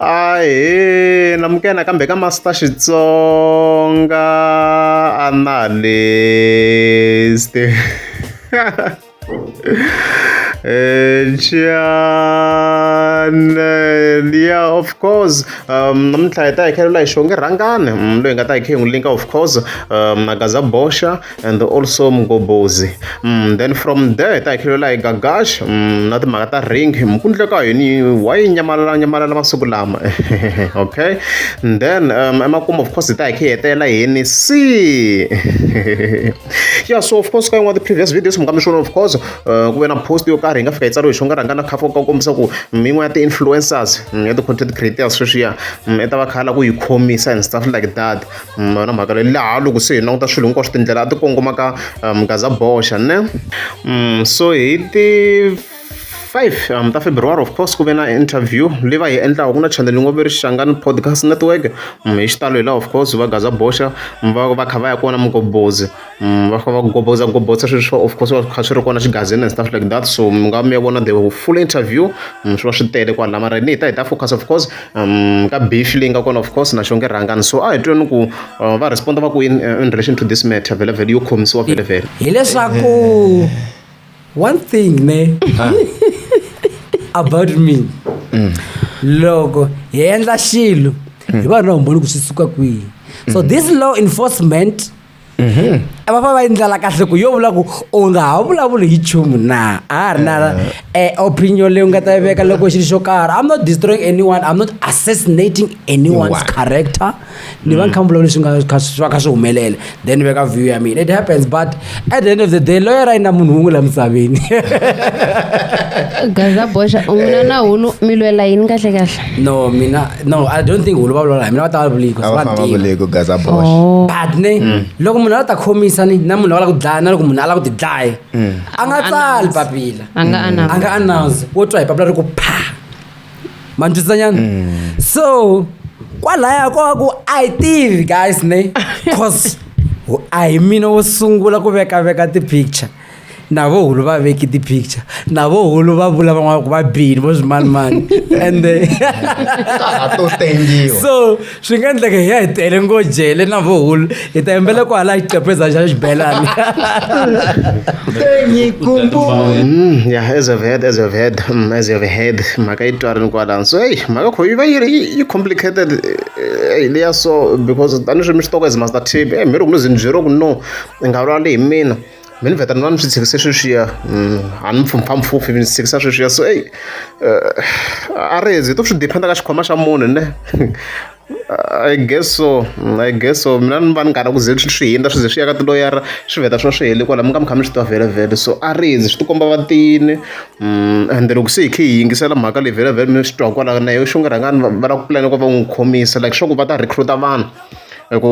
Ahee na muka nakambe ka Master Xitsonga Analyst ya of course namuntlha hi ta hi kha hi vula hi xonge rhangani loyi hi nga ta hi kha hi n'wi link-a of course Magaza Boxa and also mgobozi mm, then from there hi ta hi khilela hi gagash mm, na timhaka ta ring mukundleka yini wa yi nyamalala nyamalala masiku lama okay and then um, emakumu of course hi ta hi khi hetela yini si yeah so of course ka yin'wana ti-previous videos mukambixona of course uh, ku ve na post yo karhi hi nga fika yi tsariwe hi xonga rhanga na khafa ka kombisa ku mm, yin'wana ya ti-influencers ya ti-content creators sweswiya i ta va khala ku yi khomisa and stuff like that na mhaka leyi laha loko se hi languta swilo hinkwaswo tindlela a ti kongoma ka um gaza boxa ne um so hi ti 5 um, ta february of course ku ve na interview leyi va yi endlaka ku na chanel yi ngo ve ri xangani podcast network um, hi xitalo hi laha of course va gaza boxa va va kha va ya kona mugobozi Mm, va famba va gobotsa gobotsa swilo swa of course va kha swi ri kona xigazini and stuff like that so mi nga mi ya vona the full interview mm, swi va swi tele kwala mara ni hi ta hi ta focus of course um, ka beef leyi nga kona of course na xonge rhangani so a hi tweni ku uh, va responda va ku in, uh, in relation to this matter vele vele yo khomisiwa vele vele hileswaku one thing ne ah. about me mm. loko hi endla xilo hi va na humboni ku swi suka kwihi so mm. this law enforcement va va va yi ndlela kahle ku yo vula ku u nga ha vulavuli hi nchumu na a ha ri na eh, opinion leyi u nga ta yi veka loko xilo xo karhi i'm not destroying anyone i'm not assassinating anyone's Anyone. character ni va ni kha ni vulavula leswi nga kha- swi va kha swi humelela then ni veka view ya mina it happens but at the end of the day loyer a yi na munhu wun'we la misaveni gaza boxa u n'wina na hunu mi lwela yini kahle kahle no mina no i don't think wu va vulavula hi mina va ta va vuliki a va famba vuleki ku gaza bosh Oh. but ne Mm. loko munhu a la ta khomisa ni na munhu a va la ku dlaya na loko munhu a la ku ti dlaya Mm. a nga tsali papila A nga Mm. announce. a nga announce wo twa hi papila ri ku pha ma ni twisisa nyana Mm. so kwalaya ko va ku a yi tivi guys ne cause a hi mina wo sungula ku vekaveka ti-picture na vohulu va veki ti-picture na vohulu va vula van'wana ku va bini vo swimanimani ende to tengiwa so swi nga endleka hi ya hi tele ngo jele na vohulu hi ta yembela ku hala xiqepheza xa xibelani mm, ya as of head as of head mm, as of head mhaka yi twarini kwalani so eyi mhaka kho yi va yi ri yi complicated eh, eh, leya so because tanihi swi mi xitoko as master tv e eh, mi ri ku ni zinjero ku no i nga vula le hi mina mi ni vheta ni va ni swi tshikise sweswiya mm, a ni mpfhumphampfuphi mi ni tshikisa sweswiya so eyi eh, a ri hezi to swi dependa ka xikhwama xa munhu ne i guess so mm, i guess so mina ni va ni karhi ku ze swi hindza swi ze swi ya ka tiloyara swi vheta swi va swi heli kwala mi nga mi kha mi swi twa vhelavhele so a ri hezi swi tikomba va tini mm, and loko se hi khe hi yingisela mhaka leyi vhelavhele mi swi twa kwala na yo xi nga rhangani va lava ku pulana ku va n'wi khomisa like swa ku va ta recruta vanhu hi ku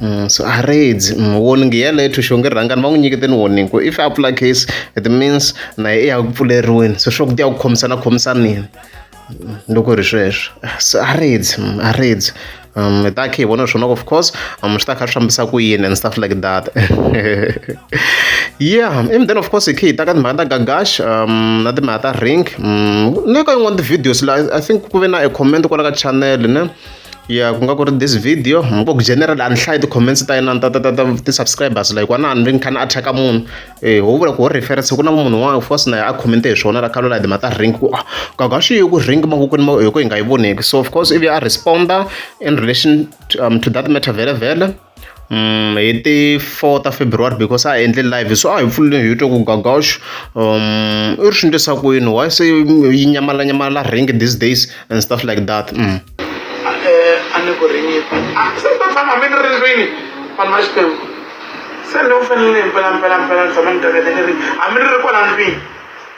Mm, so a readzi mm, warning yeleyo thuxo nge rhangani va n'wi nyiketeni warning ku if a pfula case it means na ye i ya ku pfuleriweni so swa ku ti ya ku khomisana khomisanini mm, loko ri sweswo so a readzi a readzi um hi ta khe hi vona swona of course um swi ta kha swi fambisa ku yini and stuff like that yeah and then of course hi khe hi ta ka timhaka ta gagash um na timhaka ta ring um na ka yin'wana ti-videos la i think ku ve na a comment kwala ka channel ne ya ku nga ku ri this video mi ngo ku general a ni hlayi ti-comments ta yena ta ta ta ta ti-subscribers like wani a ni ri ni kha ni attack munhu eh ho vula ku ho reference ku na munhu un'wana of course na a commente hi swona la khalo la dima ta ring ku ah, kaga swi yi ku ring mavokweni ma hi ku hi nga yi voneki so of course ivi a responder in relation to, um, to that matter vele vele hi ti four ta February because a hi endle live so a hi pfulile hi twa ku Gagosh u ri swi endlisa ku yini why se yi nyamala nyamala rhingi these days and stuff like that a ni ku rini se ta tshama mi ni ri ndlwini vanhu va Xikwembu se ni u fanele mpelampelampela ni tshama ni teketeke ri hambi ni ri kwala ndlwini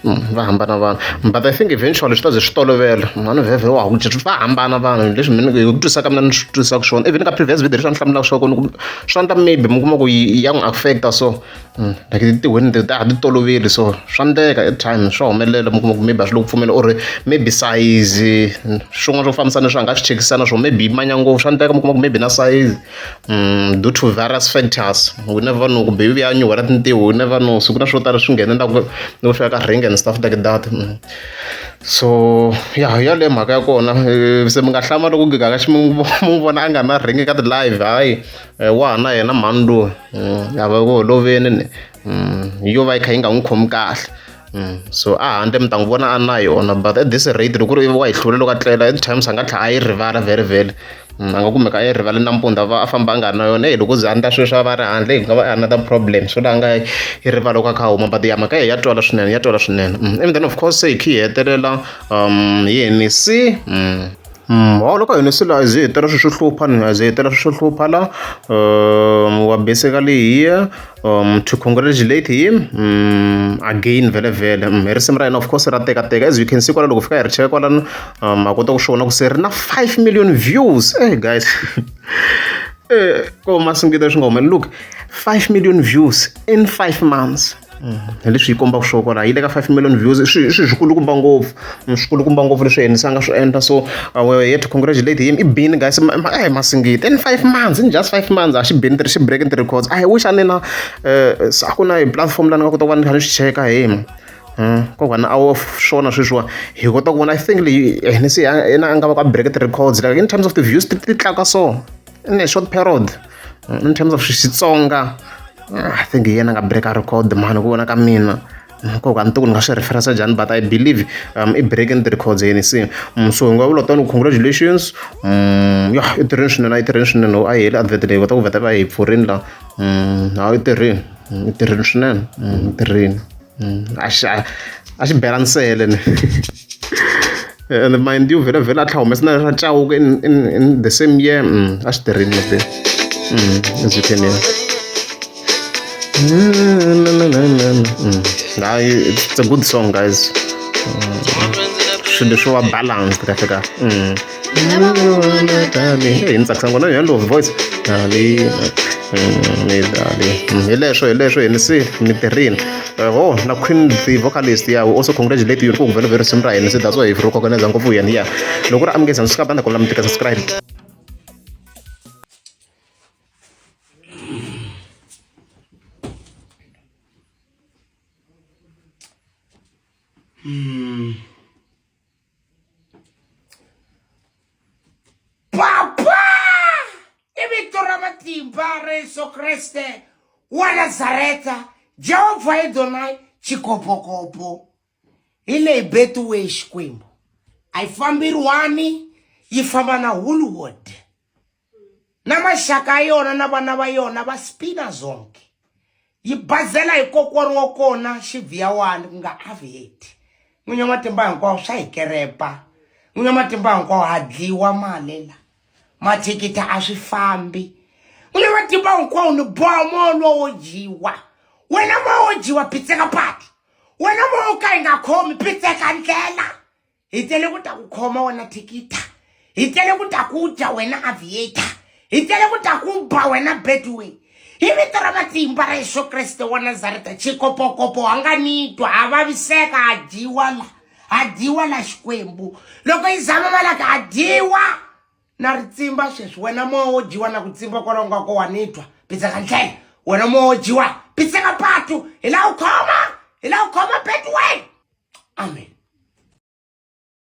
Mm, va hambana vanhu but i think eventually swi ta ze swi tolovela mhani vhevhe wa ku va hambana vanhu leswi mina hi ku twisaka mina ni swi twisaka swona even ka previous video leswi a ni hlamulaka swa kona swi endla maybe mi kuma ku ya n'wi affecta so mm, like tiweni ti ta ha ti toloveli so swa endleka at time swa humelela mi kuma ku maybe a swi lo ku pfumela or maybe size swin'wana swo fambisana leswi a nga swi chekisana swo maybe manya ngopfu swa endleka mi kuma ku maybe na size due to various factors we never know kumbe yi vuya nyuhela tintiho we never know siku na swo tala swi nghene ndaku ni ku fika ka ring and stuff like that mm. so ya ya le mhaka ya kona eh, se mi nga hlama loko gigaka xi mu vona a nga na ring ka ti-live hayi eh, wa ha na yena mhani loyi mm, a va ku holoveni ni mm, yo va yi kha yi nga n'wi khomi kahle mm, so a handle mi ta n'wi vona a na yona but at this rate loko ri wa yi hlule loko a tlela at times a nga tlha a yi rivala vhele vhele mm, a nga kumeka a yi rivale nampundzu a va a famba a nga ri na yona e loko ze a ndla sweswi a va ri handle yi nga va another problem so laha nga yi rivala loko a kha a huma but ya mhaka ye ya twala swinene ya twala swinene and then of course se hi khi hi hetelela um yi henisi Mholovo ka hina se la a hi ze hi hetela swilo swo hlupha ni a hi ze hi hetela swilo swo hlupha la wa basically here to congratulate him again vhele vhele hi risimu ra hina of course ra tekateka as you can see kwala loko hi fika hi ri cheka kwalano ma kota ku swi vona ku se ri na five million views eyi guys ko masingita swi nga humeleli look five million views in five months. hi leswi yi kombaka swo kwalaho yi le ka five million views i swilo swi swikulukumba ngopfu swikulukumba ngopfu leswi yena se a nga swi endla so we yet congratulate him i bini guys a hi masingiti in five months in just five months a xi bini xi breaking the records a hi wish a ni na um a ku na hi platform la ni nga kota ku va ni kha ni swi cheka hi yena hmm, ko vana a swona sweswiwa hi kota ku vona i think leyi hina se yena a nga va ka break the records like in terms of the views ti tlakuka so in a short period in terms of xitsonga ah, i think hi yena nga break a record mhani ku vona ka mina nkoka a ni tiku ni nga swi referensa njhani but i believe um, i breaking the records yeni se mm, so hi nga vula tani congratulations mm, ya i tirheni swinene a yi tirheni swinene a yi heli advert leyi kota ku veta va hi pfurini la mm, a yi tirheni i tirheni swinene i tirheni mm, a xi a xi bela nsele ni and mind you vhela vhela a tlha humesa na ra cawuka in, in, in the same year mm, a xi tirhini lete ezikheni ya hayi it's a good song guys swilo leswo va balance kahle kahle hi ni tsakisa ngona yona love voice dali mm, ni dali mm, hi leswo hi leswo hi ni si ni tirhini ho na queen the vocalist ya also congratulate you ku vele very simple ni se that's why if ro kokoneza ngopfu yena ya loko ri amukeza ni swikabanda kola mi tika subscribe Mm. papa i vito ra matimba ra yesu kreste wa nazareta jehovha edonai chikopokopo hi leyi betiwe xikwembu a yi fambiriwani yi famba na hollywood na maxaka ya yona na vana va yona va spina zonke yi bazela hi kokwani wa kona xivhiyawani ku nga aviate n'winyi wa matimba hinkwawo swa hi kerepa n'winyi wa matimba hinkwawo ha dliwa malela mathikithi a swi fambi n'winyi wa matimba hinkwawo ni boha moya lowo wo dyiwa wena moya wo dyiwa pitseka pati wena moya wo ka yi nga khomi pitseka ndlela hi tele ku ta ku khoma wena thikita hi tele ku ta ku dya wena aviator hi tele ku ta ku ba wena bedway hi vito ra matimba ra yesu kreste wa nazareta chikopokopo a nga nitwa a vaviseka a dyiwa la a dyiwa la xikwembu loko yi zama malaka a dyiwa na ri tsimba sweswi wena moya wo dyiwa na ku tsimba kwalaho nga ko wa ni twa pitseka ndlela wena moya wo dyiwa pitseka patu hi la u khoma hi la u khoma betiway amen